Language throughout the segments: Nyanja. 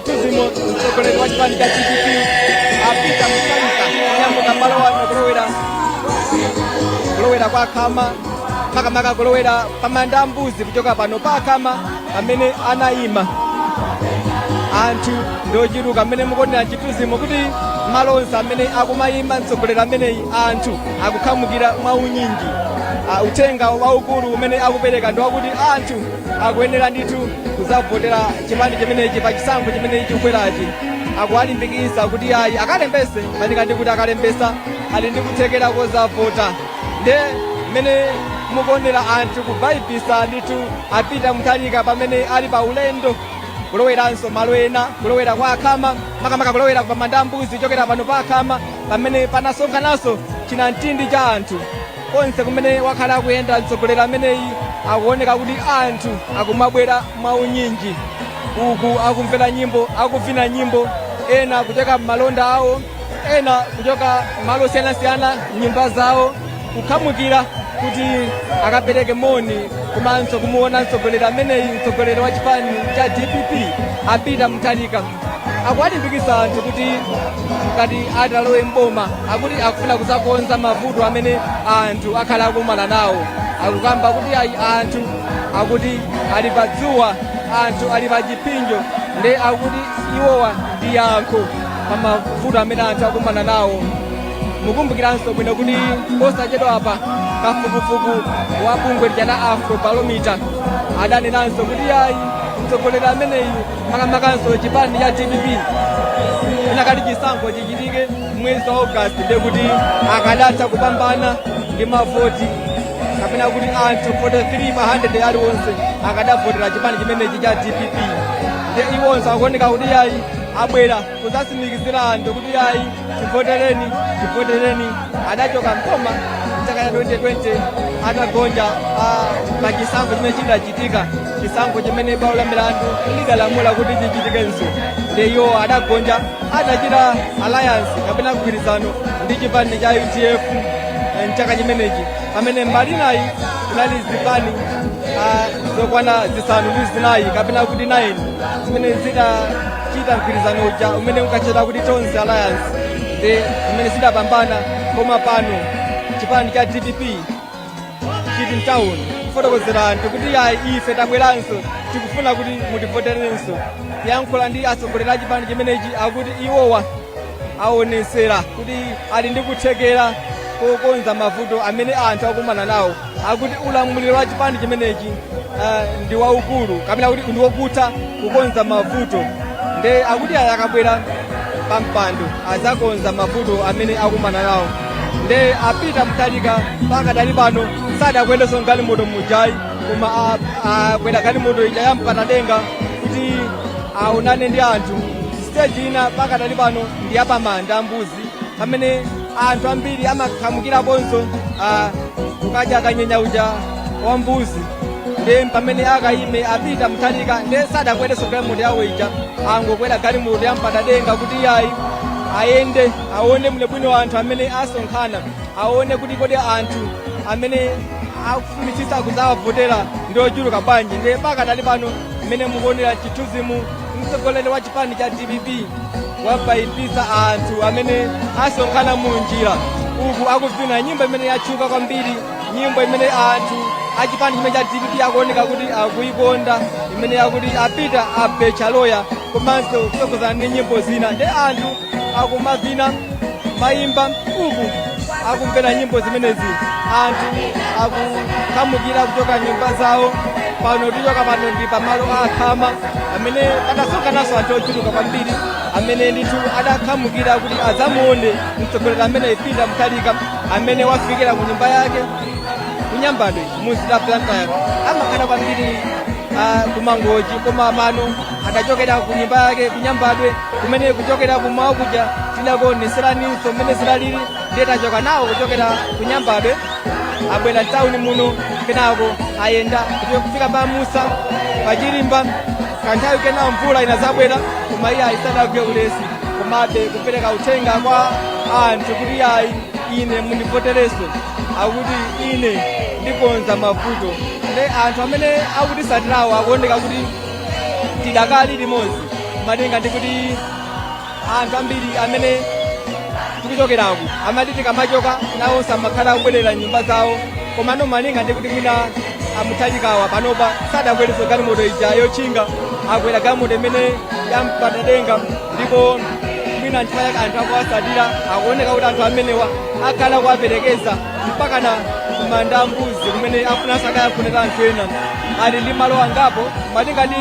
Mzimu mtsogoleri wa chipani cha DPP a Peter Mutharika kunyamuka malo ano kulowera kulowera kwa khama makamaka kulowera pa Mbandambanda kuchoka pano pa khama pamene anayima anthu ndochuluka mmene mukuonera mchithunzimo kuti malo onse amene akumayima mtsogoleri ameneyi anthu akukhamukira mwaunyinji Ah, uthenga waukulu umene akupereka ndi wakuti anthu akuyenera ndithu kuzavotera chipani chimenechi pa chisankho chimene chikubwerachi akuwalimbikisa kuti ayi akalembese malinga ndi kuti akalembesa ali ndi kuthekera kozavota nde mmene mukuonera anthu kubayibitsa ndithu a Peter Mutharika pamene ali pa ulendo kuloweranso malo ena kulowera kwa Khama makamaka kulowera pa mandambuzi chokera pano pa Khama pamene panasonkhananso chinamtindi cha anthu konse kumene wakhala akuyenda mtsogoleri ameneyi akuoneka kuti anthu akumabwera mwaunyinji uku akumvera nyimbo akuvina nyimbo ena kuchoka m'malonda awo ena kuchoka malo osiyanasiyana m'nyumba zawo kukhamukira kuti akapereke moni komanso kumuona mtsogoleri ameneyi mtsogoleri wa chipani cha dpp a Peter Mutharika akuwalimbikitsa anthu kuti ngati atalowe mboma akuti akufuna kuzakonza mavuto amene anthu akhala akumana nawo akukamba kuti ayi anthu akuti ali pa dzuwa anthu ali pa chipsinjo nde akuti iwowa ndi yankho pa mavuto amene anthu akumana nawo mukumbukiranso bwino kuti posachedwa apa kafukufuku wa bungwe lija la Afrobarometer adanenanso kuti ayi mtsogoleri ameneyu makamakanso chipani cha dpp zinakati chisankho chichitike mwezi wa august ndiye kuti akadatha kupambana ndi mavoti kapena kuti anthu 43 pa 100 aliwonse akadavotera chipani chimenechi cha dpp nde iwonso akuoneka kuti yayi abwera kuzatsimikizira anthu kuti ayi tivotereni tivotereni adachoka m'boma mchaka cha 2020 atagonja ah, pa chisankho chimene chidachitika chisankho chimene bwalo la milandu lidalamula kuti chichitikenso nde iwo adagonja adachita alliance kapena mgwirizano ndi chipani cha UDF eh, mchaka chimenechi pamene mbali inayi kunali zipani ah, zokwana zisanu ndi zinayi kapena kuti 9 zimene zida chita mgwirizano uja umene unkatchedwa kuti tonse alliance nde zimene zidapambana koma pano chipani cha dpp chili mtown kufotokozera anthu kuti ayi ife tabweranso tikufuna kuti mutivoterenso yankhula ndi atsogoleri a chipani chimenechi akuti iwowa aonetsera kuti ali ndi kuthekera kokonza mavuto amene anthu akumana nawo akuti ulamuliro wa chipani chimenechi uh, ndi waukulu kapena kuti ndi wokutha kukonza mavuto nde akuti ayi akabwera pa mpando adzakonza mavuto amene akumana nawo nde a Peter Mutharika pakadali pano sadakwerenso mgalimoto mujayi koma a- akwera galimoto ija ya mpandadenga kuti aonane ndi anthu siteji ina pakadali pano ndi yapamanda mbuzi pamene anthu ambiri amakhamukiraponso ah, kukadya kanyenya uja wa mbuzi nde pamene akayime a Peter Mutharika nde sadakwerenso galimoto yawo ija angokwera galimoto ya mpandadenga kuti iyayi ayende aone bwinobwino anthu amene asonkhana aone kuti kodi anthu amene akufunitsitsa kudzawavotera ndi ochuluka bwanji nde pakadali pano mmene mukuonera chithunzimu mtsogoleri wa chipani cha dpp wabayibitsa anthu amene asonkhana mu njira uku akuvina nyimbo imene yatchuka kwambiri nyimbo imene anthu achipani chimene cha dpp akuoneka kuti akuikonda imene yakuti a Peter abechaloya komanso kutsogozana ndi nyimbo zina nde anthu akumavina mayimba uku akumvera nyimbo zimenezi anthu akukhamukira kuchoka nyumba zawo pano tichoka pano ndi pamalo a khama amene padasonkhananso anthu ochuluka kwambiri amene ndithu adakhamukira kuti adzamuone mtsogoleri ameneyi Peter Mutharika amene wafikira ku nyumba yake kunyambadwe mumzinda wa Blantyre amakhala kwambiri ah, kumangochi koma pano adachokera ku nyumba yake kunyambadwe kumene kuchokera kummawa kuja tidakuoneseraninso mmene zidalili ndiye tachoka nawo kuchokera kunyambadwe abwera mtawuni muno kenako ayenda kuti kufika pa musa pachirimba kanthawi kenako mvula inadzabwera koma iyayi sadagwe ulesi komabe kupereka uthenga kwa anthu kuti ayi ine mundivoterenso akuti ine ndikonza mavuto nde anthu amene akutitsatirawo akuoneka kuti tidakali limodzi malinga ndi kuti anthu ambiri amene tikuchokeraku amati tikamachoka nawonso amakhala akubwerera nyumba zawo komano malinga ndi kuti mwina a Mutharikawa panopa sadakwerenso galimoto ija yotchinga akwera galimoto imene yampandadenga ndipo mwina nchifukwa chake anthu akuwatsatira akuoneka kuti anthu amenewa akhala akuwaperekeza mpakana kumanda mbuzi kumene afunanso akayankhule ndi anthu ena ali ndi malo angapo malinga ndi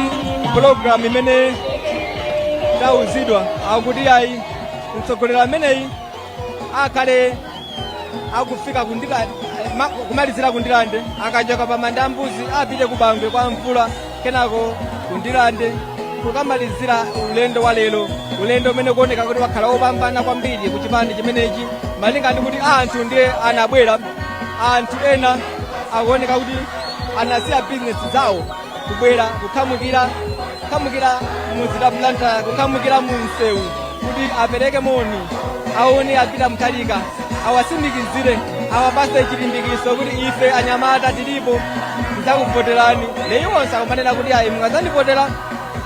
pulogalamu imene tauzidwa akuti ayi mtsogoleri ameneyi akhale akufika ndi kumalizira kundirande akachoka pa manda mbuzi apite ku bangwe kwa mvula kenako ku ndilande kukamalizira ulendo wa lero ulendo umene ukuoneka kuti wakhala wopambana kwambiri ku chipani chimenechi malinga ndi kuti anthu ndiye anabwera anthu ena akuoneka kuti anasiya bizinesi zawo kubwera kukhamukira kukhamukira mumzinda wa Blantyre kukhamukira mu msewu kuti apereke moni aone a Peter Mutharika awatsimikizire awapase chilimbikitso kuti ife anyamata tilipo tizakuvoterani ndiye iwonso akumanena kuti ayi mukazandivotera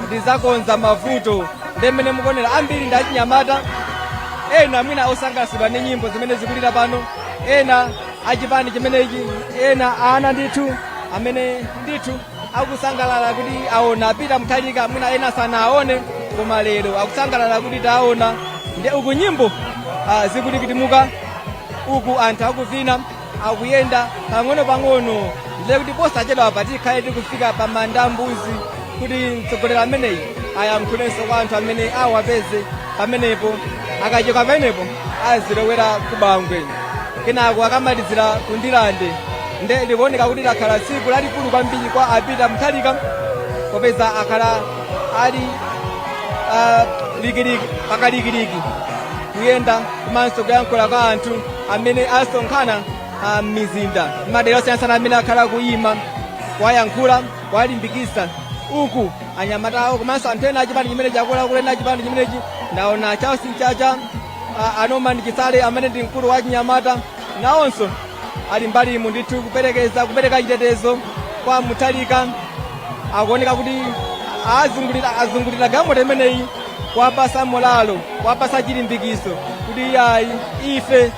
ndizakonza mavuto ndemene mukuonera ambiri ndi achinyamata ena mwina osangalatsidwa ndi nyimbo zimene zikulira pano ena achipani chimenechi ena ana ndithu amene ndithu akusangalala kuti aona a Peter Mutharika mwina ena sanawaone koma lero akusangalala kuti tawaona nde uku nyimbo ah, zikutikitika uku anthu akuvina akuyenda pang'ono pang'ono ndiye kuti posachedwa apa tikhale tikufika pa manda mbuzi kuti mtsogoleri ameneyi ayankhulenso kwa anthu amene awapeze pamenepo akachoka pamenepo azilowera ku bangwe kenako akamalizira ku ndilande nde likuoneka kuti lakhala tsiku lalikulu kwambiri kwa a Peter Mutharika popeza akhala ali ah, likiliki pakalikiliki kuyenda komanso kuyankhula kwa anthu amene asonkhana ah, m'mizinda m'madera osiyanasiyana amene akhala akuyima kuwayankhula kuwalimbikisa uku anyamata awo komanso anthu ena achipani chimenechi akuluakulu ena achipani chimenechi ndaona charles mchacha a Norman Chisale amene ndi mkulu wa achinyamata nawonso ali mbalimu ndithu kuperekeza kupereka chitetezo kwa Mutharika akuoneka kuti azungulira azungulira galimoto imeneyi kuwapasa molalo kuwapasa chilimbikiso kuti ayi ife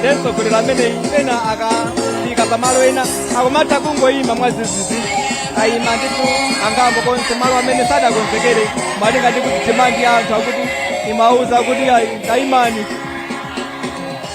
nde mtsogoleri ameneyi pena akafika pamalo ena akumatha kungoyima mwazizizi kuyima ndithu angakhalenso malo amene sadakonzekere malinga ndi kuti demand ya anthu akuti imawauza kuti ayi tayimani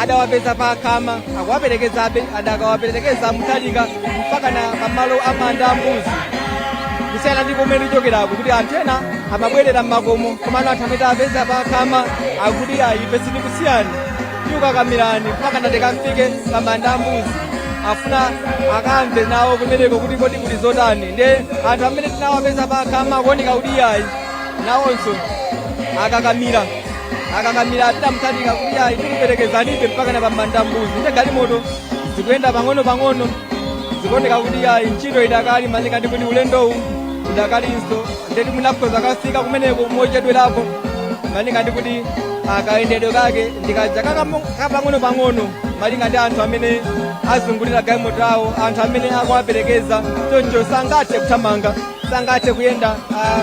adawapeza pa khama akuwaperekezabe adakawaperekeza Mutharika mpaka na pamalo a manda mbuzi kusiyana ndi komwe tichokerako kuti anthu ena amabwerera m'makomo komano anthu amene tawapeza pa khama akuti ayi ife sitikusiyani tikukakamirani mpaka natikafike pa manda mbuzi afuna akamve nawo kumeneko kuti kodi kuli zotani nde anthu amene tinawapeza pa khama akuoneka kuti ayi nawonso akakamira akakamira a Peter Mutharika kuti ayi tikuperekezanibe mpaka na pamanda mbuzi nde galimoto zikuyenda pang'ono pang'ono zikuoneka kuti ayi ntchito idakali malinga ndi kuti ulendowu udakalinso ndeti mwina akhoza kafika kumeneko mochedwerapo malinga ndi kuti ah, kayendedwe kake ndikaja kapang'ono pang'ono malinga ndi anthu amene azungulira galimoto awo anthu amene akuwaperekeza choncho sangathe kuthamanga sangathe kuyenda ah,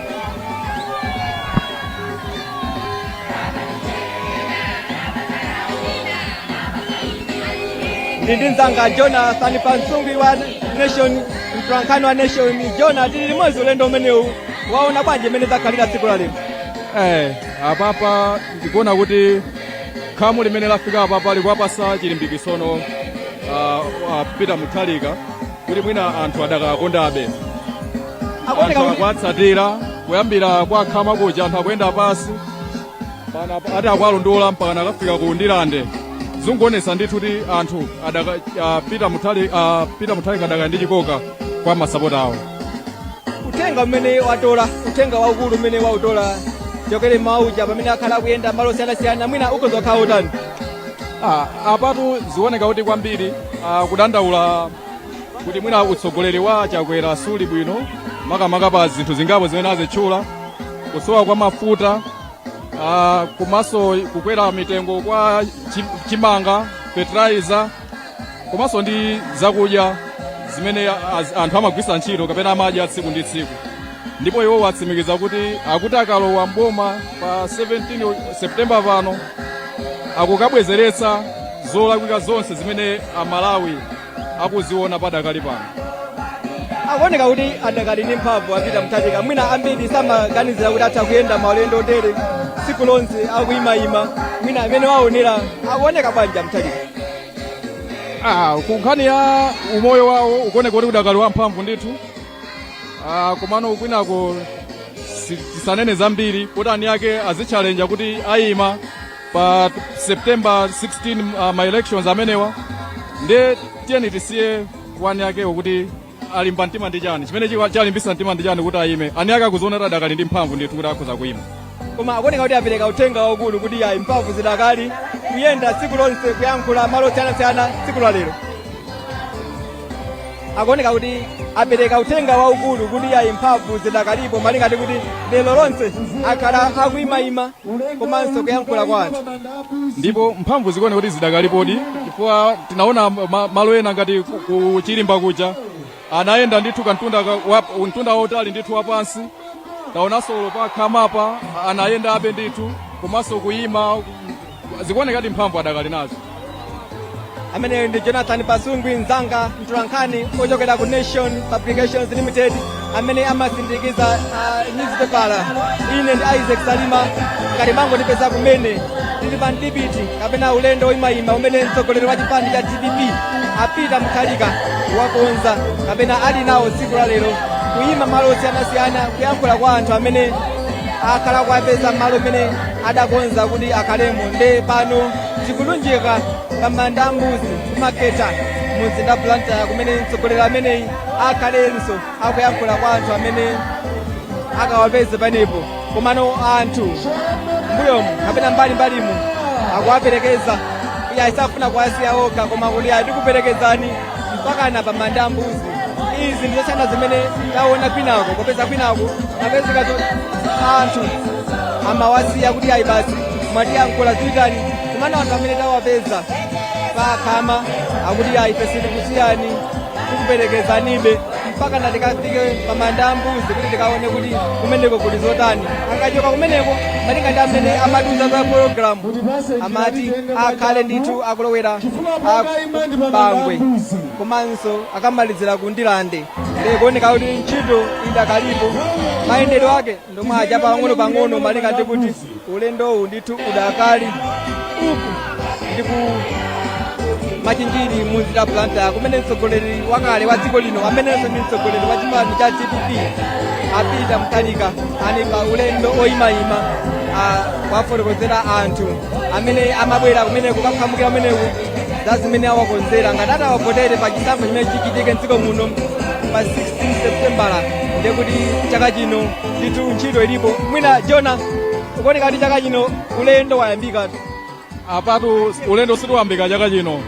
ndi ndi mzanga jonathan pasungwi wa nation mtolankhani wa nation jona tili limodzi ulendo umenewu waona bwanji mmene zakhalira tsiku la lero Eh, apapa ndikuona kuti khamu limene lafika apapa likuwapasa chilimbikitsono uh, uh, a peter mutharika kuti mwina anthu adakawakondabe anthu akuwatsatira kuyambira kwa khama kuja anthu akuyenda pansi ati akuwalondola mpaka nakafika ku ndirande zungoonetsa ndithu kuti anthu adaka a Peter Mutharika adakali ndi chikoka kwa masapota awo uthenga umene watola uthenga waukulu umene wautola chokere mmawa uja pamene akhala akuyenda malo osiyanasiyana mwina ukhoza kukhala utani Ah, apatu zioneka kuti kwambiri ah, kudandaula kuti mwina utsogoleri wa chakwera suli bwino makamaka pa zinthu zingapo zimene azitchula kusowa kwa mafuta ah, komanso kukwera mitengo kwa chi- chimanga fertilizer komanso ndi zakudya zimene az- anthu amagwiritsa ntchito kapena amadya tsiku ndi tsiku ndipo iwo atsimikiza kuti akuti akalowa mboma pa 17 septemba pano akukabwezeretsa zolakwika zonse zimene amalawi akuziona padakali pano akuoneka kuti adakali ndi mphamvu a Peter mutharika mwina ambiri samaganizira kuti atha kuyenda maulendo otere tsiku lonse akuyimayima mwina mmene waonera akuoneka bwanji a mutharika Ah, ku nkhani ya umoyo wawo ukuoneka kuti udakali wamphamvu ndithu Ah, komano kwinako si- tisanene zambiri kuti ani ake azitchalenja kuti ayima pa september 16 ah, ma elections amenewa nde tiyeni tisiye ani akewo kuti alimba mtima ndi chani chimene chika- chalimbisa mtima ndi chani kuti ayime ani ake akuziona kuti adakali ndi mphamvu ndithu kuti akhoza kuyima koma akuoneka kuti apereka uthenga waukulu kuti ayi mphamvu zidakali kuyenda tsiku lonse kuyankhula malo osiyanasiyana tsiku la lero akuoneka kuti apereka uthenga waukulu kuti ayi mphamvu zidakalipo malinga ndi kuti lero lonse akhala akuimaima komanso kuyankhula kwa anthu ndipo mphamvu zikuoneka kuti zidakalipodi chifukwa tinaona ma- malo ena ngati ku- ku chirimba kuja Anayenda ndithu kantunda ka- wa- mtunda wautali ndithu wapansi taonanso olo pa khamapa anayendabe ndithu komanso kuyima zikuonekadi mphamvu adakali nazo ameneyo ndi jonathan pasungwi mzanga mtolankhani ochokera ku nation publications limited amene amasindikiza uh, newspaper ine ndi isaac salima ngati mangondipeza kumene tili pa mdipiti kapena ulendo woyimayima umene mtsogoleri wa chipani cha dpp a peter mutharika wakonza kapena ali nawo tsiku la lero kuyima malo osiyanasiyana kuyankhula kwa anthu amene akhala kuwapeza malo amene adakonza kuti akhalemo nde pano tikulunjika pa manda a mbuzi kumakhetha mumzinda wa blantyre kumene mtsogoleri ameneyi akhalenso akuyankhula kwa anthu amene akawapeze panepo komano anthu mbuyomu kapena mbali mbalimu akuwaperekeza ayi asakufuna kuwasiya okha koma kuti atikuperekezani mpakana pamanda a mbuzi izi ndizosiyana zimene taona kwinako popeza kwinako apezeka zo- anthu amawasiya kuti ayi basi mwatiyankhula zipitani komano anthu amene tawapeza pakhama akuti ayi ife sitikusiyani tikuperekezanibe mpakana tikafike pamanda a mbuzi kuti tikaone kuti kumeneko kuli zotani akachoka kumeneko malinga ndi amene amatiuza za pologalamu amati akhale ndithu akulowera a ku bangwe komanso akamalizira kundilande nde zikuoneka kuti ntchito idakalipo mayendedwe ake ndi omwe aja pang'ono pang'ono malinga ndi kuti ulendowu ndithu udakali uku ndi ku machinjiri mumzinda wa blantyre kumene mtsogoleri wakale wa dziko lino amenenso ndi mtsogoleri wa chipani cha dpp a peter mutharika ali pa ulendo oyimayima ah, kuwafotokozera anthu amene amabwera kumeneko kukakhamukira kumeneko za zimene awakonzera ngati atawavotere pa chisankho chimene chichitike mdziko muno pa 16 septembala ndiye kuti chaka chino ndithu ntchito ilipo mwina jona ukuona ngati chaka chino ulendo wayambikatu apatu ulendo siwayambika chaka chino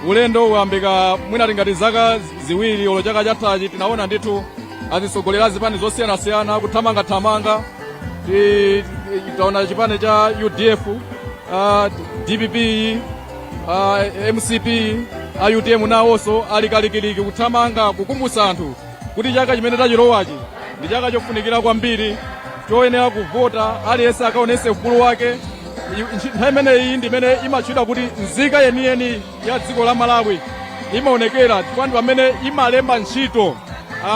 ulendo unayambika mwina tingati zaka ziwiri olo chaka chathachi tinaona ndithu atsogoleri a zipani zosiyanasiyana kuthamangathamanga Ti- ti- taona chipani cha udf uh, dpp uh, mcp a utm nawonso ali kalikiliki kuthamanga kukumbutsa anthu kuti chaka chimene tachilowachi ndi chaka chofunikira kwambiri choyenera kuvota aliyense akaonese ufulu wake I- ntchito- nthawi imeneyi ndi imene imatchedwa kuti nzika yeniyeni ya dziko la malawi imaonekera chifukwa ndi pamene imalemba ntchito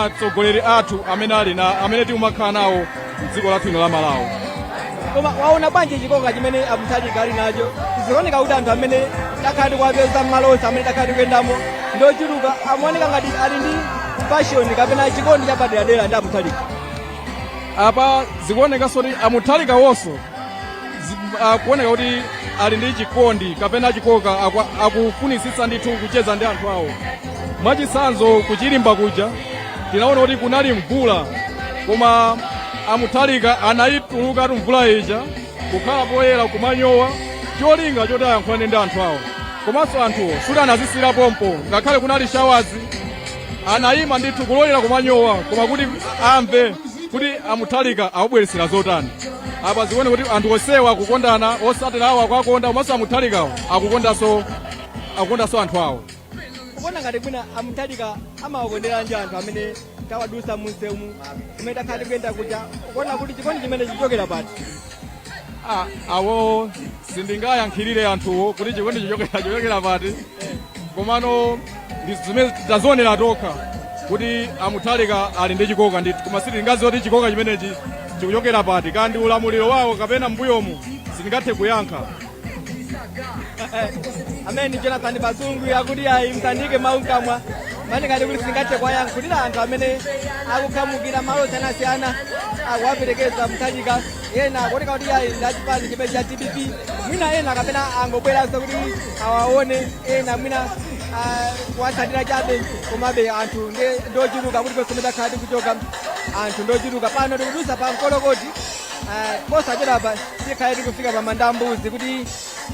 atsogoleri athu amene ali na amene tikumakhala nawo mdziko lathu ino la malawi koma waona bwanji chikoka chimene amuthalika ali nacho zikuoneka kuti anthu amene takhala tikuwapeza mmalo onse amene takhala tikuyendamo ndi ochuluka amaoneka ngati ali ndi pashoni kapena chikondi chapaderadera ndi amuthalika apa zikuonekanso kuti amuthalika wonso akuoneka kuti ali ndi chikondi kapena chikoka akufunitsitsa ndithu kucheza ndi anthu awo mwachitsanzo kuchilimba kuja tinaona kuti kunali mvula koma amuthalika anayituluka tu mvula ija kukhala poyera kumanyowa cholinga choti ayankhulane ndi anthu awo komanso anthuwo sikuti anazizira pompo ngakhale kunali shawazi anayima ndithu kulolera kumanyowa koma kuti amve kuti amuthalika akubweretsera zotani apa zikuone kuti anthu onsewa akukondana osatira awo akuwakonda komanso amuthalikawo akukondanso anthu awo ukuona ngati mwina amuthalika amawakonderanji anthu amene tawadusa munsewumu kumene takhala tikuyenda kuja ukuona kuti chikondi chimene chichokera pati Ah, awo sindingayankhirire anthuwo kuti chikondi chikuchokera pati komano ndi zimene tazionera tokha kuti amuthalika ali ndi chikoka ndithu koma sitingaziwe kuti chikoka chimenechi chikuchokera pati kaya ndi ulamuliro wawo kapena mbuyomu sindingathe kuyankha amene jonathan basungu akuti ayi msandike mawu mkamwa mani ngati kuti sindingathe kuwayankhira anthu amene akukhamukira malo osiyanasiyana akuwaperekeza mthalika ena akuoneka kuti ayi ndachipani chimene cha dpp mwina ena kapena angobweranso kuti awaone ena mwina ah, kuwatsatira chabe komabe anthu ndi- ndochuluka konse komwe takhala tikuchoka anthu ndochuluka pano tikudusa pa mkolokoti ah, posachedwapa tikhale tikufika pa manda mbuzi kuti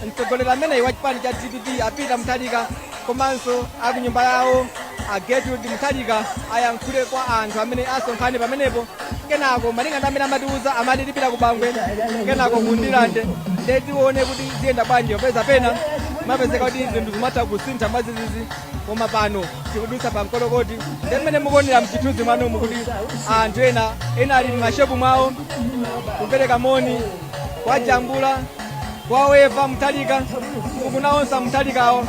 mtsogoleri ameneyi wa chipani cha dpp a Peter muthalika komanso akunyumba yawo a Gertrude Mutharika ayankhule kwa anthu amene asonkhane pamenepo kenako malinga ndi mmene amatiuza amati tipita ku bangwe kenako ku ndilande ndiye tione kuti ziyenda bwanji popeza pena imapezeka kuti zinthu zimatha kusintha mwadzidzidzi koma pano tikudutsa pa mkolokoti ndi mmene mukuonera mchithunzi mwanomu kuti anthu ena ena ali m'mashopu mwawo kupereka moni kwa jambula kwa wepa mtalika ukuku naonso mtalikawo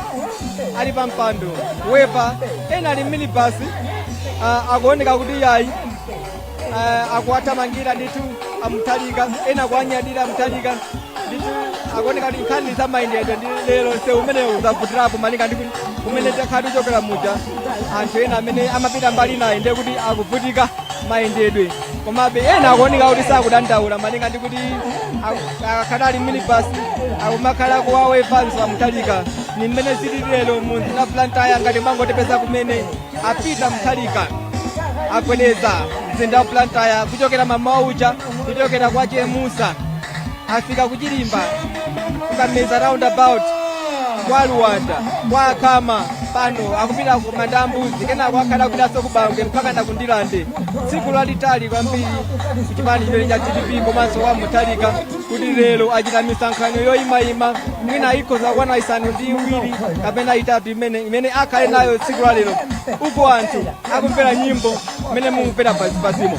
ali pa mpando wepa ena ali mminibasi uh, akuoneka kuti yayi uh, akuwathamangira ndithu amtalika ena akuwanyadira amtalika ndithu akuoneka kuti nkhani za mayendedwe ndi lero nsewu umenewu zavutirapo malinga ndi kumene takhala tikuchokera muja anthu ena amene amapita mbali naye ndiye kuti akuvutika mayendedwe komabe ena akuoneka kuti sakudandaula malinga ndi kuti aku- akakhala ali minibus akumakhala akuwaweva a Mutharika ni mmene zili lero mu mzinda wa Blantyre ngati mwangotipeza kumene a Peter Mutharika agwedeza mzinda wa Blantyre kuchokera mamawa uja kuchokera kwa chemusa afika ku chirimba ku kameza roundabout kwa luwanga kwa kameza pano akupita ku manda ambuzi kenako akhala akupitanso ku bangwe mpaka na ku ndirande tsiku lalitali kwambiri kuchipani chimene cha dpp komanso wa Mutharika kuti lero achita misonkhano yoyimayima mwina ikhoza kukwana isanu ndi iwiri kapena itatu imene imene akhale nayo tsiku la lero uko anthu akumvera nyimbo imene mukumvera pansipansimo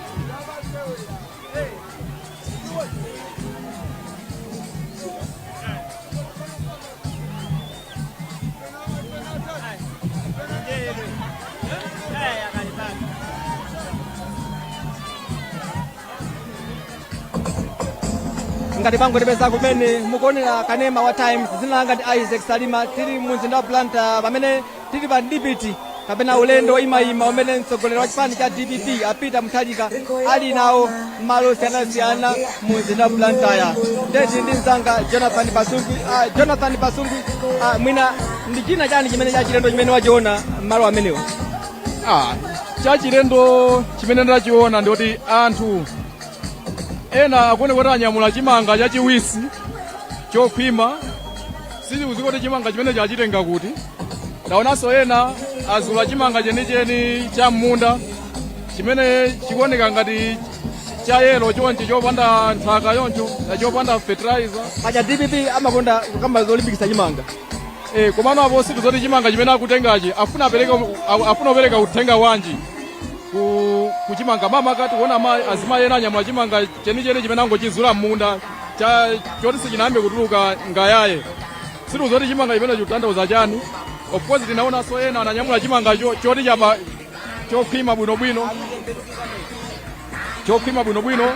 ngati mwangotipeza kumene mukuonera kanema wa times dzina langa ndi isaac salima tili mu mzinda wa blantyre pamene Tili pa mdipiti kapena ulendo woyimayima umene mtsogoleri wa chipani cha dpp a Peter Mutharika ali nawo m'malo osiyanasiyana mu mzinda wa Blantyre. Nde ndili ndi mzanga Jonathan Pasungwi. Ah, Jonathan Pasungwi, ah, mwina ndi china chani chimene cha chilendo chimene wachiona m'malo amenewo? Ah, chachilendo chimene ndachiona ndikuti anthu ena akuoneka kuti anyamula chimanga chachiwisi chokhwima Sitikudziwa kuti chimanga chimenechi achitenga kuti. Taonanso ena azula chimanga chenicheni cha m'munda chimene chikuoneka ngati cha yelo chonchi chopanda nthaka choncho chopanda fertilizer. Paja dpp amakonda kukamba zolimbikitsa chimanga. Eh, komano apo sitidziwa kuti chimanga chimene akutengachi afuna apereka a- afuna kupereka uthenga wanji ku kuchimanga koma ngati tikuona azimayi ena anyamula chimanga chenicheni chimene angochizula m'munda choti sichinayambe kutuluka ngayaye sitikudziwa kuti chimanga chimenechi chikutanthauza chani of course tinaonanso ena ananyamula chimangacho choti chapa chokhwima bwinobwino chokhwima bwinobwino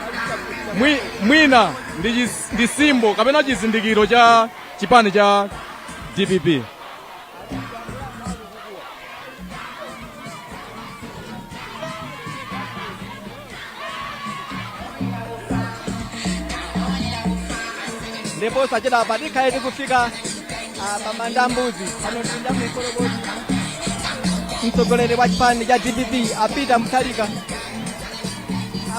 mwi, mwina ndi chis- ndi simbo kapena chizindikiro cha chipani cha dpp ndipo sachedwa apa tikhale tikufika ah, pa manda a mbuzi pano tili ndi mkolokosi mtsogoleri wa chipani cha dpp a Peter Mutharika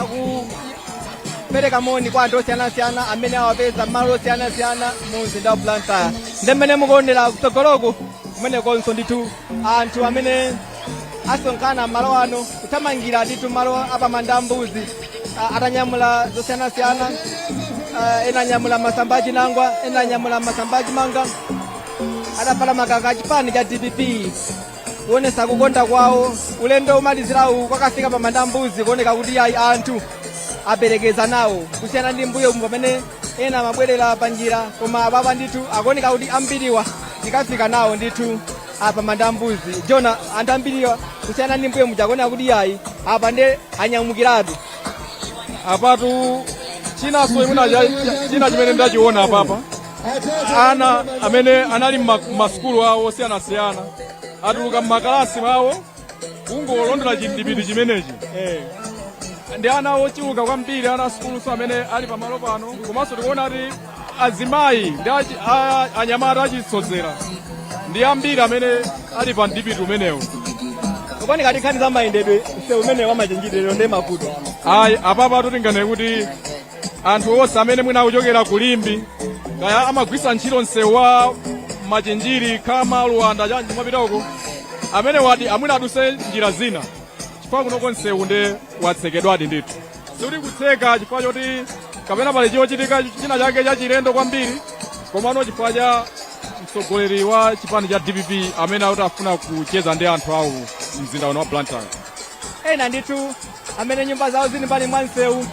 akupereka moni kwa anthu osiyanasiyana amene awapeza m'malo osiyanasiyana mu mzinda wa blantyre ndi mmene mukuonera kutsogoloku kumenekonso ndithu anthu amene asonkhana malo ano kuthamangira ndithu malo a pa Manda a Mbuzi ah, atanyamula zosiyanasiyana ah, ena anyamula masamba achinangwa ena anyamula masamba achimanga atavala makaka achipani cha dpp kuonesa kukonda kwawo ulendo omalizirawu wokafika pamanda a mbuzi kuoneka kuti ayi anthu aperekeza nawo kusiyana ndi mbuyo mu pamene ena amabwerera pa njira koma apapa ndithu akuoneka kuti ambiriwa tikafika nawo ndithu pa Manda a Mbuzi jona anthu ambiriwa kusiyana ndi mbuyo muja akuoneka kuti yayi apa nde anyamukiratu apatu chinanso imuna china chimene ndachiona apapa ana amene anali mma- mmasukulu awo osiyanasiyana atuluka mmakalasi mwawo kungolondola chimdipiti chimenechi eh. ndi ana ochuluka kwambiri ana asukuluso amene ali pamalo pano komanso tikuona kuti azimayi ndi anyamata achisodzera ndi ambiri amene ali pa mdipiti umenewu kapena kaya nkhani za mayendedwe msewu umenewu wa Machinjiri lero nde mavuto ayi apapa tingonena kuti anthu onse amene mwina akuchokera ku Limbe kaya amagwisa ntchito msewu wa machinjiri khama luwanda cha kumapita uko amenewo ati mwina aduse njira zina chifukwa kunoko msewu nde watsekedwadi ndithu sikuti kutseka chifukwa choti kapena pali chochitika china chake chachilendo kwambiri komano chifukwa cha mtsogoleri wa chipani cha dpp amene akuti afuna kucheza ndi anthu awo mzinda uno wa blantyre ena ndithu amene nyumba zawo zili mbali mwa msewu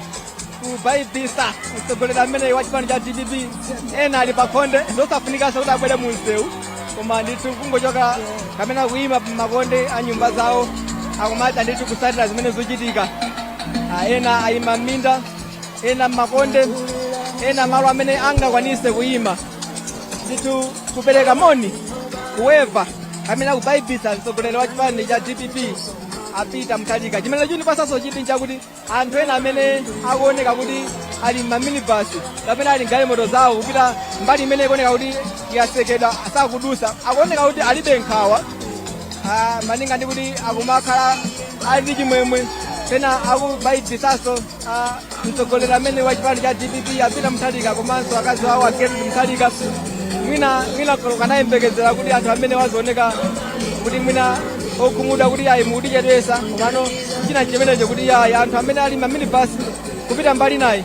kubaibisa mtsogoleri ameneyi wa chipani cha dpp ena ali pakhonde osafunikanso kuti abwere mu msewu koma ndithu kungochoka kapena kuyima pamakonde a nyumba zawo akumatha ndithu kusatira zimene zochitika Ah, ena ayima m'minda ena m'makonde ena malo amene angakwanise kuyima ndithu kupereka moni kuweva kapena kubaibisa mtsogoleri wa chipani cha dpp a Peter Mutharika chimene chikundipasaso chidwi nchakuti anthu ena amene akuoneka kuti ali mmaminibus kapena ali mgalimoto zawo kupita mbali imene ikuoneka kuti yasekedwa sakudusa akuoneka kuti alibe nkhawa ah, malinga ndi kuti akumakhala ali ndi chimwemwe pena akubayibisaso Ah, mtsogoleri ameneyu wa chipani cha dpp a Peter Mutharika komanso akazi awo a Gertrude Mutharika mwina tikanayembekezera kuti anthu amenewa azioneka kuti mwina okhumudwa kuti ayi mukutichedwesa komano china nchimenecho kuti ayi anthu amene ali m'maminibasi kupita mbali inayi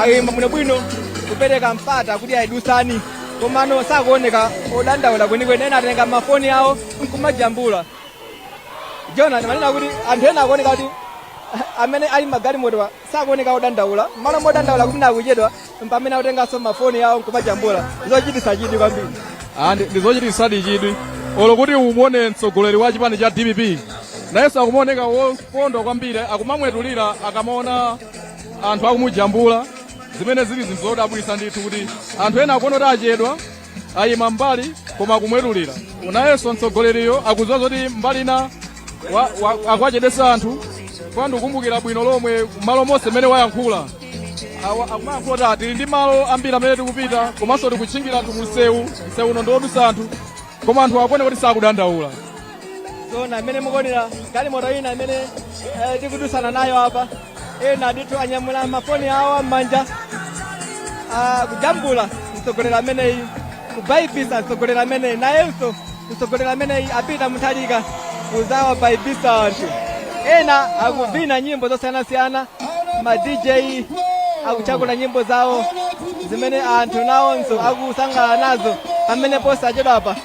ayima bwinobwino kupereka mpata kuti ayi dusani komano sakuoneka odandaula kwenikweni ena atenga mafoni awo nkumajambula jona ndimanena kuti anthu ena akuoneka kuti amene ali mmagalimotowa sakuoneka odandaula mmalo modandaula kuti mwina akuchedwa mpamene akutenganso mafoni awo nkumajambula zochitisa chidwi kwambiri andi ndizochitisadi chidwi olo kuti umuone mtsogoleri wa chipani cha dpp nayenso akumaoneka wokondwa kwambiri akumamwetulira akamaona anthu akumujambula zimene zili zinthu zodabwisa ndithu kuti anthu ena akuona kuti achedwa ayima mbali koma akumwetulira nayenso mtsogoleriyo akudziwa zoti mbali ina wa- wa- akuwachedwetsa anthu kwa ndikumbukira bwino lomwe malo monse mmene wayankhula Awa- akumayankhula kuti "Ah, tili ndi malo ambiri amene tikupita komanso tikutchingira anthu mumsewu msewu uno ndiwodutsa anthu koma anthu akuoneka kuti sakudandaula jona mmene mukuonera galimoto ina imene tikudutsana nayo apa ena ndithu anyamula mafoni awo m'manja akujambula mtsogoleri ameneyi kubaibisa mtsogoleri ameneyi nayenso mtsogoleri ameneyi a peter mutharika kuzawabaibisa anthu ena akuvina nyimbo zosiyanasiyana ma dj akuchakula nyimbo zawo zimene anthu nawonso akusangalala nazo pamene posachedwapa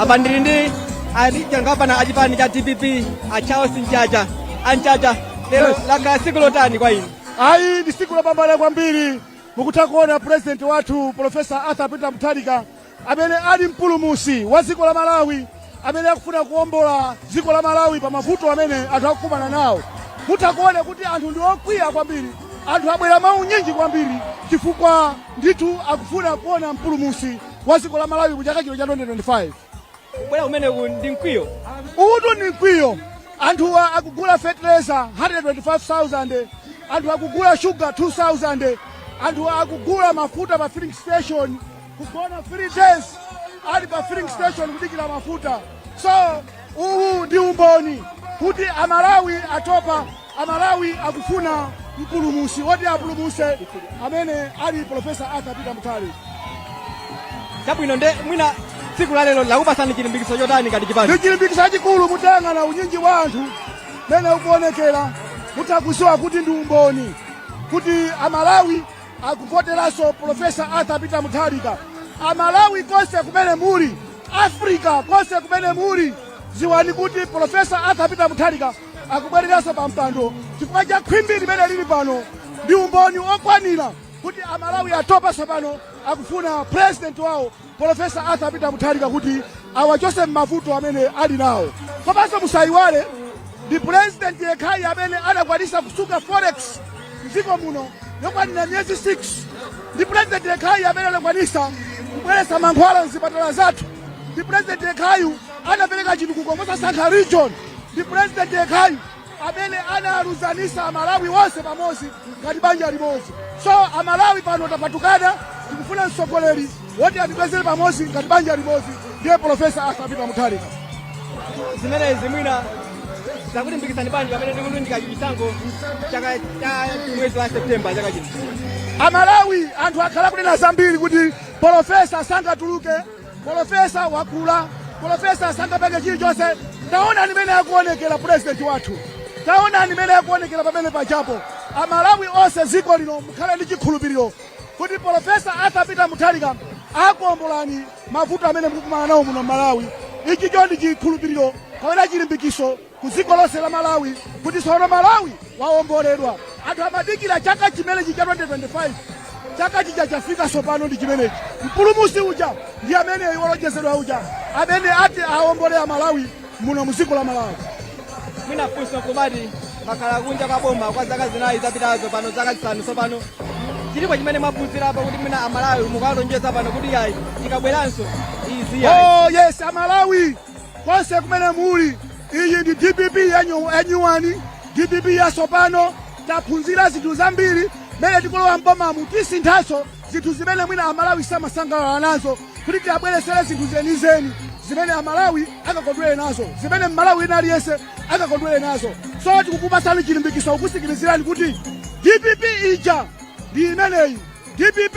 apa ndili ndi a gangapana a chipani cha dpp a charles mchacha a mchacha lero lakhala tsiku lotani kwa inu ayi ndi tsiku lopambana kwambiri mukutha kuona purezidenti wathu profesa arthur peter mutharika amene ali mpulumusi wa dziko la malawi amene akufuna kuombola dziko la malawi pa mavuto amene anthu akukumana nawo mutha kuona kuti anthu ndi okwiya kwambiri anthu abwera mwaunyinji kwambiri chifukwa ndithu akufuna kuona mpulumusi wa dziko la malawi mu chaka chino cha 2025 kubwera kumeneku ndi mkwiyo utu ni mkwiyo anthuwa akugula fertilizer 125000 anthu akugula sugar 2000 anthu akugula mafuta pa filling station kugona 3 days ali pa filling station kudikira mafuta so uwu ndi umboni kuti amalawi atopa amalawi akufuna mpulumusi woti awapulumuse amene ali profesa arthur peter mutharika chabwino nde mwina tsiku la lero lakupasani chilimbikitso chotani ngati chipani ndichilimbikitso chachikulu mutayang'ana unyinji wa anthu mene ukuonekera mutha kuziwa kuti ndi umboni kuti amalawi Akuvoteranso Pulofesa Arthur Peter Mutharika. Amalawi konse kumene muli, Africa konse kumene muli, dziwani kuti Pulofesa Arthur Peter Mutharika akubwereranso pa mpando chifukwa cha khwimbi limene lili pano ndi umboni okwanira kuti Amalawi atopa tsopano akufuna president wawo Polofesa Arthur Peter Mutharika kuti awachose m'mavuto amene ali nawo komanso musayiwale ndi pulezidenti yekhayi amene anakwanisa kusunga forex mdziko muno yokwanira miyezi 6 ndi pulezidenti yekhayi amene anakwanisa kubweretsa mankhwala mzipatala zathu ndi pulezidenti yekhayi anapereka chitukuko mosasankha region ndi pulezidenti yekhayi amene analuzanisa amalawi wonse pamodzi ngati banja limodzi so amalawi pano tapatukana tikufuna mtsogoleri woti atibwezere pamodzi ngati banja limodzi ndiye profesa arthur peter mutharika zimenezi mwina zakulimbikitsani bwanji pamene tikulunjika chisankho chaka cha mwezi wa septemba chaka chino amalawi anthu akhala kunena zambiri kuti profesa sangatuluke polofesa wakula polofesa sangapange chilichonse taonani mene akuonekera purezidenti wathu taonani mene akuonekera pamene pachapo amalawi onse dziko lino mukhala ndi chikhulupiriro kuti polofesa arthur peter mutharika akuombolani mavuto amene mukukumana nawo muno malawi ichicho ndi chikhulupiriro kapena chilimbikiso ku dziko lonse la Malawi kuti tsono Malawi waomboledwa. Anthu amadikira chaka chimenechi cha 2025 chaka chija chafika tsopano ndi chimenechi. Mpulumusi uja ndi ameneyu wolonjezedwa uja amene ati aombole a Malawi muno mu dziko la Malawi. mwina funso kumati mwakhala kunja kwa boma kwa zaka zinayi zapitazo pano zaka zisanu tsopano chilipo chimene mwaphunzirapo kuti mwina amalawi mukalonjeza pano kuti yayi tikabweranso izi yayi Oh yes, a Malawi konse kumene muli iyi ndi dpp yanyuwani dpp yasopano taphunzira zinthu zambiri mmene tikulowa mbomamu tisinthanso zinthu zimene mwina amalawi samasangalala nazo kuti tiyabweresere zinthu zenizeni zimene amalawi akakondwere nazo zimene mmalawi wina aliyense akakondwere nazo so tikukupatsani chilimbikitso kukusimikizirani kuti dpp ija ndi imeneyi dpp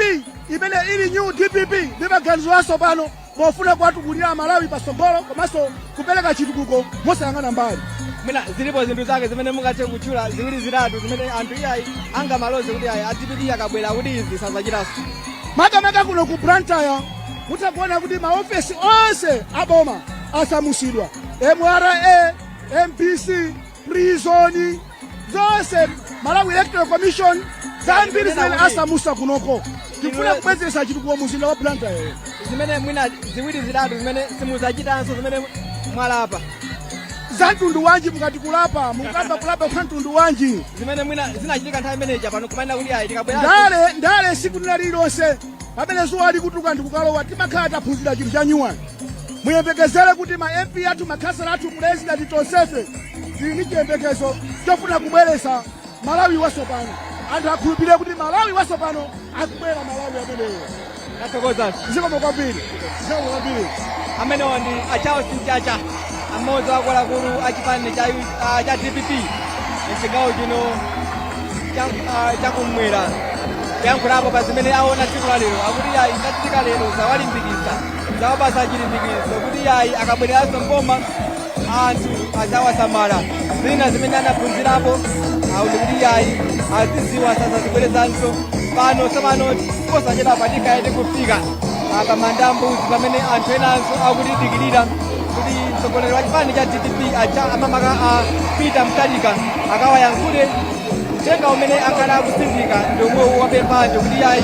imene ili new dpp ndi maganizo asopano pofuna kuwatukulira amalawi patsogolo komanso kupereka chitukuko mosayang'ana mbali mwina zilipo zinthu zake zimene mungathe kutchula ziwiri zitatu zimene anthu iyayi angamaloze kuti ayi adpp akabwera kuti izi sazachitanso makamaka kuno ku blantyre mutha kuona kuti maofesi onse aboma asamusidwa mra mbc prison zonse malawi electoral commission zambiri zimene asamusa kunoko tifuna kubwezeresa chitukuko mu mzinda wa blantyre yoyo zimene mwina ziwiri zitatu zimene simuzachitanso zimene mwalapa za mtundu wanji mukati kulapa mukamba kulapa kwa mtundu wanji zimene mwina zinachitika nthawi imeneja pano kumanena kuti ayi tikabwera ndale ndale siku lina lililonse pamene zuwa likutuka ndikukalowa timakhala taphunzira chinthu cha nyuwani muyembekezere kuti ma mp athu makhasala athu pulezidenti tonsefe tili ndi chiyembekezo chofuna kubweresa malawi wasopano anthu akhulupirire kuti malawi wasopano akubwera malawi ameneyo Nathokoza. zikomo kwambiri zikomo kwambiri amenewo ndi a charles mchacha amodzi wa akuluakulu a chipani cha U- ah, cha dpp mchigawo chino cha- ah, chakumwera kuyankhulapo pa zimene aona tsiku la lero akuti ayi zachitika lero zawalimbikitsa zawapasa chilimbikitso kuti yayi akabwereranso mboma anthu azawasamala zina zimene anaphunzirapo auti kuti yayi aziziwa sazazibwerezanso pano tsopano posachedwa patikhale tikufika apa manda a mbuzi pamene anthu enanso akutidikirira kuti mtsogoleri wa chipani cha dpp acha amamaka a peter mutharika akawayankhule uthenga umene akhala akutsindika ndi omwewu wapemphaje kuti ayi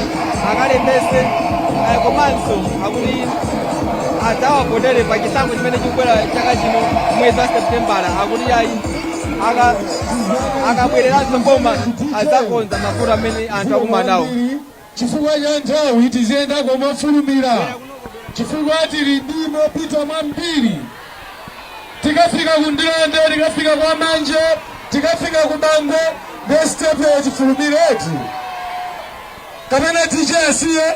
akalembese eh, komanso akuti adzawavotere pa chisankho chimene chikubwera chaka chino mwezi wa septembala akuti ayi aka- akabwereranso mboma adzakonza mavuto amene anthu akumanawo Chifukwa cha nthawi tiziyendako mofulumira chifukwa tili ndi mopita mwambiri. Tikafika ku Ndirande, tikafika kwa Manje, tikafika ku Bangwe ndiye sitepe ya tifulumire eti? Kapena DJ asiye?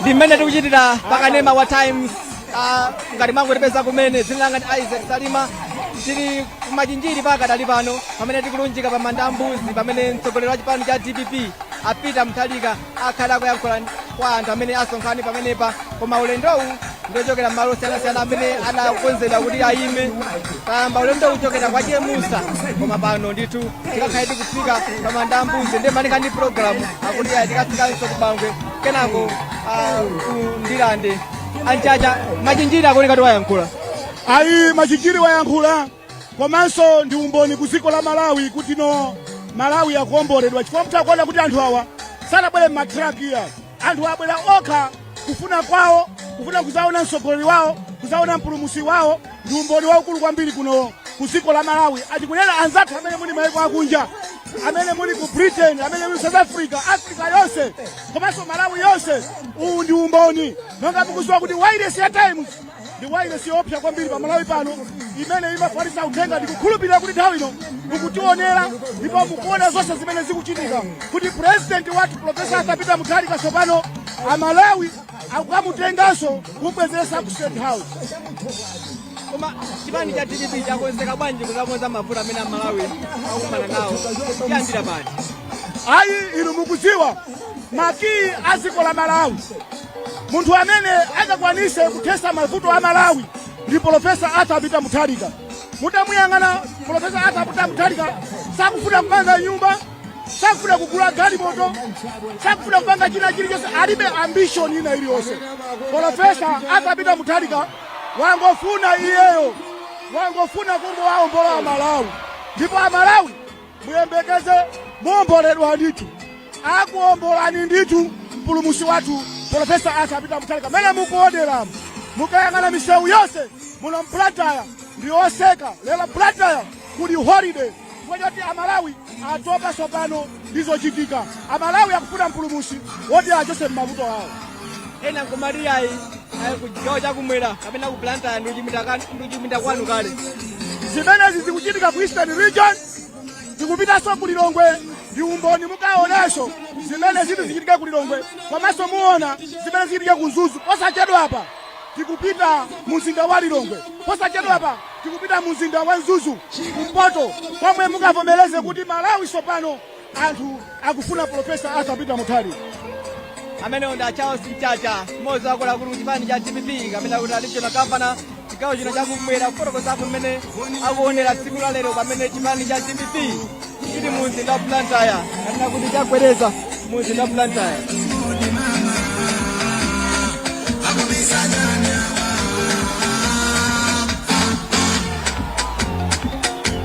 ndi mmene tikuchitira pakanema wa times ah, ngati mwangotipeza kumene dzina langa ndi isaac salima tili kumachinjiri pakadali pano pamene tikulunjika pa manda a mbuzi pamene mtsogoleri wa chipani cha dpp a peter mutharika akhale akuyankhula kwa anthu amene asonkhana pamenepa koma ulendowu ndiochokera m'malo osiyanasiyana amene anakonzedwa kuti ayime tayamba ulendowu kuchokera kwa chemusa koma pano ndithu tikakhale tikufika pa manda ambuzi ndiye malinga ndi programu akuti ayi tikafikanso kubangwe kenako ah, ku ndilande anchacha machinjiri akuoneka kuti wayankhula ayi machinjiri wayankhula komanso ndi umboni ku dziko la malawi kuti no malawi akuomboledwa chifukwa mukuona kuti anthu awa sanabwere m'matraki iyayi anthu abwera okha kufuna kwawo kufuna kuzaona mtsogoleri wawo kuzaona mpulumusi wawo ndi umboni waukulu kwambiri kuno ku dziko la malawi atikunena anzathu amene muli maiko akunja amene muli ku britain amene muli south africa africa yonse komanso malawi yonse uwu ndi umboni nonga mukuziwa kuti wairesi ya times ndi wailesi yoopsa kwambiri pa malawi pano imene imafalitsa uthenga ndi kukhulupirira kuti nthawi ino mukutionera ndipo mukuona zonse zimene zikuchitika kuti purezidenti wathu profesa arthur peter mutharika tsopano amalawi akukamutenganso kumubwezeretsa ku state house koma chipani cha dpp chakonzeka bwanji kuzakonza mavuto amene amalawi akukumana nawo kuyambira pati ayi inu mukuziwa makiyi a dziko la malawi munthu amene angakwanise kuthesa mavuto a malawi ndi polofesa arthur peter mutharika mutamuyang'ana polofesa arthur peter mutharika sakufuna kupanga nyumba sakufuna kugula galimoto sakufuna kupanga china chilichonse alibe ambition ina iliyonse polofesa arthur peter mutharika wangofuna iyeyo wangofuna kungowaombola amalawi ndipo amalawi muyembekeze muomboledwa ndithu akuombolani ndithu mpulumusi wathu profesa arthur peter mutharika mene mukuoneramu mukayang'ana misewu yonse muno mu blantyre ndi otseka lero blantyre kuli holiday chifukwa choti amalawi atopa tsopano ndizochitika amalawi akufuna mpulumusi woti awachose m'mavuto awo ena nkumati ayi ayi ku chigawo chakumwera kapena ku blantyre ndi kuchipinda kwanu kale zimenezi zikuchitika ku eastern region zikupitanso ku lilongwe ndi umboni mukaonanso zimene ziti zichitike ku lilongwe komanso muona zimene zichitika ku mzuzu posachedwapa tikupita mu mzinda wa lilongwe posachedwapa tikupita mu mzinda wa mzuzu kumpoto komwe mukavomereze kuti malawi tsopano Anthu akufuna Professor Arthur Peter Mutharika. amenewo ndi a charles mchacha mmodzi wakuluakulu ku chipani cha dpp kapena kuti regional governor chigawo chino chakumwera kufotokozapo mmene akuonera tsiku la lero pamene chipani cha dpp chili mu mzinda wa blantyre kapena kuti chagwereza mu mzinda wa blantyre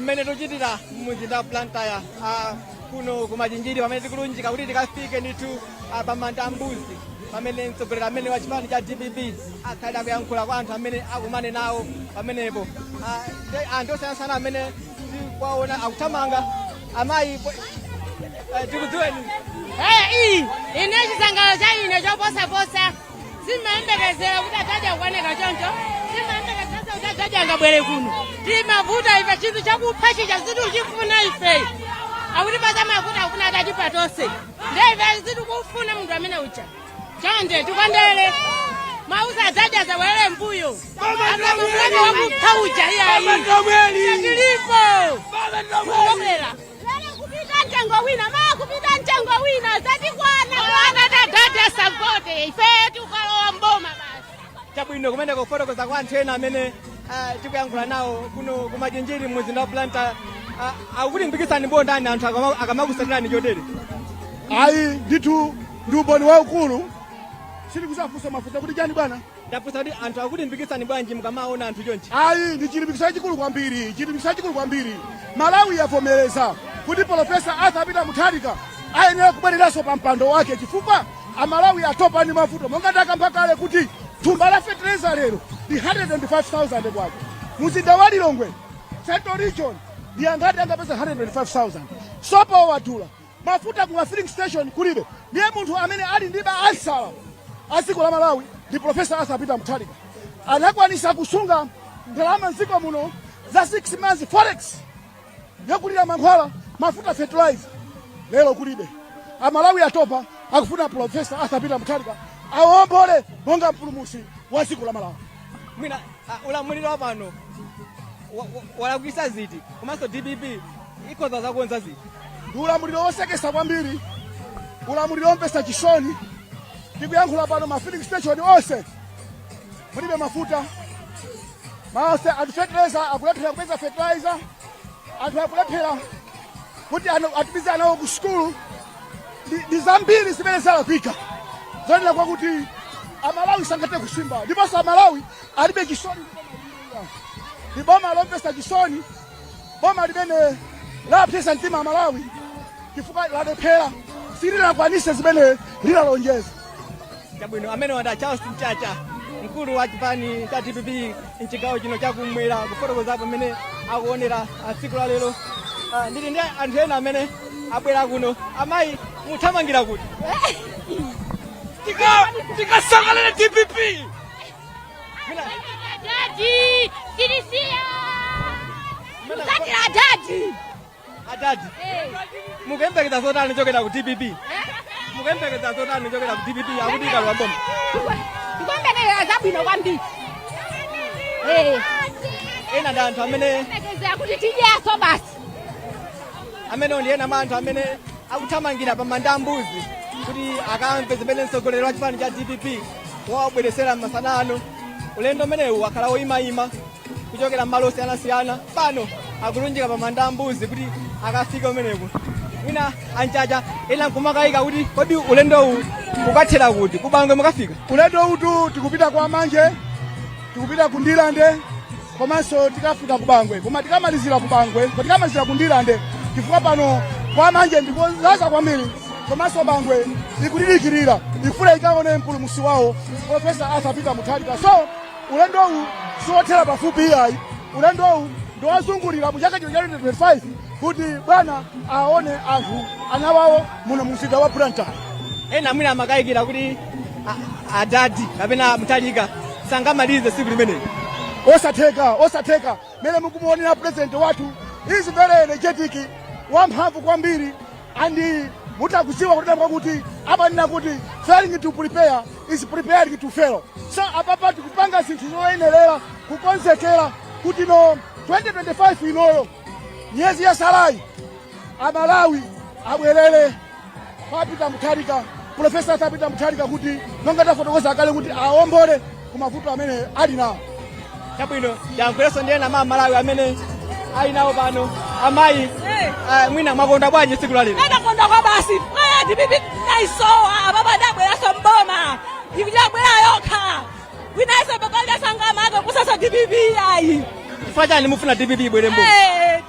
mmene tikuchitira mumzinda wa blantyre ah, kuno kumachinjiri pamene tikulunjika kuti tikafike ndithu ah, pamanda ambuzi pamene mtsogoleri amene wa chipani cha dpp akhale akuyankhula kwa anthu amene akumane nawo pamenepo Ah, ndi anthu osiyanasiyana amene tikuwaona akuthamanga amayi tikudziweni iyi ine chisangalalo cha ine choposaposa simayembekezera kuti a dad akuoneka choncho simayembekezera kuti a dad angabwere kuno timavutika ife chinthu chakupha chija zinthu chifuna ife akuti pazamavuta akufuna atatipa tonse nde ife sitikufuna munthu amene uja chonde tikondere mawuza adzadya zaulere mbuyo azakumbuka wakupha uja iyayi tilipo kukomera kupita mtengo wina maa kupita mtengo wina zatikwana ana adadi asagote ifeyo tikalowa mboma basi chabwino kumene kufotokoza kwa anthu ena amene ah, tikuyankhula nawo kuno kumachinjiri mmuzinda wa Blantyre akulimbikitsani motani anthu akama- akamakusatirani chotere ayi ndithu Ndi umboni waukulu. Sitikuzavutikanso mafuta kuti chani bwana? Ndafunsa kuti anthu akulimbikitsani bwanji mukamaona anthu chonchi? Ayi ndi chilimbikitso chachikulu kwambiri. Chilimbikitso chachikulu kwambiri. Malawi yavomereza kuti Professor Arthur Peter Mutharika ayenera kubwereranso pa mpando wake chifukwa Amalawi atopa ndi mavuto monga ndakamba kale kuti thumba la fetereza lero ndi 105,000 kwacha. Muzinda wa Lilongwe Central Region ndi angati angapeze 105,000. Sopo wadula Mafuta kuma filling station kulibe, ndiye munthu amene ali ndi ma ansala a dziko la Malawi ndi Professor Arthur Peter Mutharika anakwanisa kusunga ndalama mdziko muno za 6 months forex yogulira mankhwala, mafuta, fertilizer. Lero kulibe, Amalawi atopa, akufuna Professor Arthur Peter Mutharika awombole monga mpulumusi wa dziko la Malawi. mwina ah, ulamuliro wa pano wa- wa- walakwisa ziti komanso dpp ikhoza zakonza ziti ndi ulamuliro wosekesa kwambiri ulamuliro womvetsa chisoni tikuyankhula pano ma filling station onse mulibe mafuta mwaonse anthu fertilizer akulephera kupeza fertilizer anthu akulephera kuti ana- atumize anawo ku sukulu ndi zambiri zimene zalakwika zonena kwa kuti amalawi sangathe kusimba ndiponso amalawi alibe chisoni ndi boma lomvetsa chisoni boma limene lapsesa mtima amalawi chifukwa lalephera silinakwanitse zimene linalonjeza chabwino ameneyo anali charles mchacha mkulu wa chipani cha dpp mchigawo chino chakumwera kufotokoza mmene akuonera ah, tsiku la lero Ah, ndili ndi anthu ena amene abwera kuno amayi muthamangira kuti tikasangalale dpp Daddy, Sinisia. Mzati la daddy. adadi mukuyembekeza zotani kuchokera ku dpp mukuyembekeza zotani kuchokera ku dpp akuti ikalowa mboma tikuyembekeza zabwino kwambiri Eh, ena ndi anthu amene tikuyembekeza kuti tidyaso basi amenewo ndi ena mwa anthu amene akuthamangira pa Manda Mbuzi kuti akamve zimene mtsogoleri wa chipani cha dpp wawabweretsera masana ano ulendo umenewu wakhala woyimayima kuchokera m'malo osiyanasiyana pano akulunjika pa manda mbuzi kuti akafike umeneku mwina anchacha ena nkumakayika kuti kodi ulendowu ukathera kuti kubangwe mukafika ulendo utu tikupita kwa manje tikupita ku ndilande komanso tikafika ku bangwe koma tikamalizira ku bangwe tikamalizira ku ndilande chifukwa pano kwa manje ndikodzadza kwambiri komanso bangwe ikudidikirira ifuna ikaone mpulumusi wawo profesa arthur peter mutharika so ulendowu siwothera pafupi iyayi ulendowu ndiwozungulira mu chaka chino cha 2025 kuti bwana aone anthu ana awo muno mumzinda wa blantyre ena mwina amakayikira kuti a- adadi kapena mutharika sangamalize tsiku limeneli osatheka osatheka mene mukumuonera president wathu is very energetic wamphamvu kwambiri and mutha kudziwa kuti amanena kuti failing to prepare is preparing to fail so apapa tikupanga zinthu zoyenerera kukonzekera kuti mu 2025 inoyo miyezi yatsalayi amalawi abwerere kwa peter mutharika profesa arthur peter mutharika kuti monga tafotokoza kale kuti awombole ku mavuto amene ali nawo chabwino ndiyankhulenso ndi ena amalawi amene ali nawo pano amayi ah, mwina mwakonda bwanji tsiku la lero ndakonda kwabasi Eh, dpp ndaisowa baba ndabweraso mboma ndi ibwera yokha wina aliyense sangamake kusasa dpp ayi chifukwa chani mufuna dpp ibwere mbo Eh,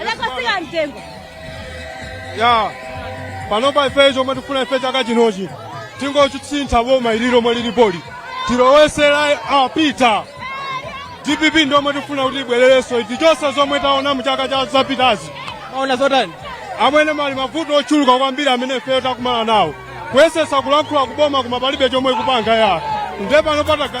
Anakwasika mtengo. ya panopa ife chomwe tifuna ife chaka chinochi tingosintha boma ili lomwe lilipoli tilowetse a peter dpp ndiyomwe tifuna kuti ibwererenso ife chonse zomwe taona mu zaka zapitazi Maona zotani? amwene pali mavuto ochuluka kwambiri amene ifeyo takumana nawo kuyesetsa kulankhula kuboma koma palibe chomwe ikupanga ya nde pano pataga